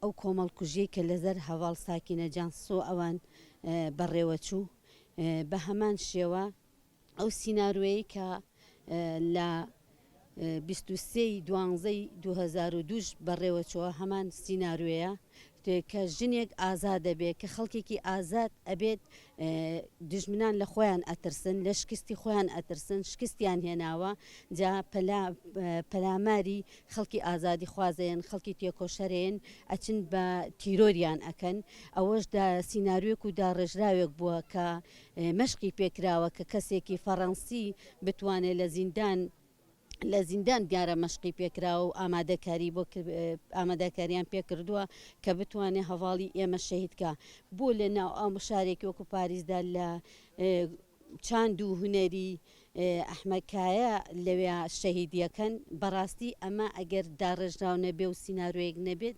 ئەو کۆمەڵکوژیەی کە لەزەر هەڤاڵ ساکینە جانسۆ ئەوان بەڕێوەچوو بەهەمان شێوە ئەو سینارۆیەی کە لە بیست و سێ ی دوانزە ی دوو هەزار و دوو ش بەڕێوەچووە هەمان سینارۆیە کە ژنێک ئازادەبێت کە خەڵکێکی ئازاد ئەبێت دوژمنان لە خۆیان ئەترسن لە شکستی خۆیان ئەترسن شکستیان هێناوە جا پەلا پەلاماری خەڵکی ئازادی خوازێن خەڵکی تێکۆشەرێن ئەچن بە تیرۆریان ئەکەن ئەوەش دا سینناروێک و داڕێژراوێک بووە کە مەشقی پێکراوە کە کەسێکی فەڕەنسی بتوانێت لە زیندان لە زیندان گارە مەشقی پێکراوە و ئامادەکاری بۆ ئاماداکاریان پێکردووە کە بتوانێ هەڤاڵی ئێمە شەهید کا بۆ لە ناو ئەم شارێکی وەکو پاریزدا لە چاند و هونەری ئەحمەکایە لەوێ شەهیدیەکەن بەڕاستی ئەمە ئەگەر داڕێژراو نەبێ و سینناروەیەک نەبێت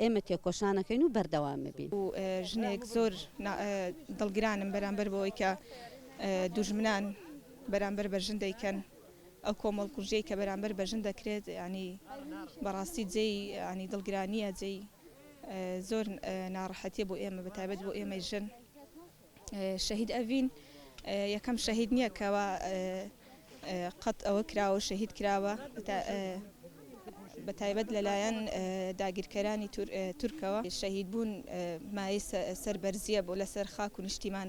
ئێمە تێکۆشانەکەین و بەردەوامەبین. و ژنێک زۆر دڵگرانم بەرامبەر بەوەی کە دوژمنان بەرامبەر بە ژن دەیکەن ئەو کۆمەڵ کوژیەی کە بەرامبەر بە ژن دەکرێت یانی بەڕاستی جێی ینی دڵگرانیە جێی زۆر ناڕەحەتیە بۆ ئێمە بەتابەت بۆ ئێمەی ژن شەهید ئەڤین یەکەم شەهید نییە کەوا قەت ئەوە کراوە شەهید کراوە بە تایبەت لەلایەن داگیرکەرانی تورکەوە شەهید بوون مای سەربەرزیە بۆ لەسەر خاک و نیشتیمان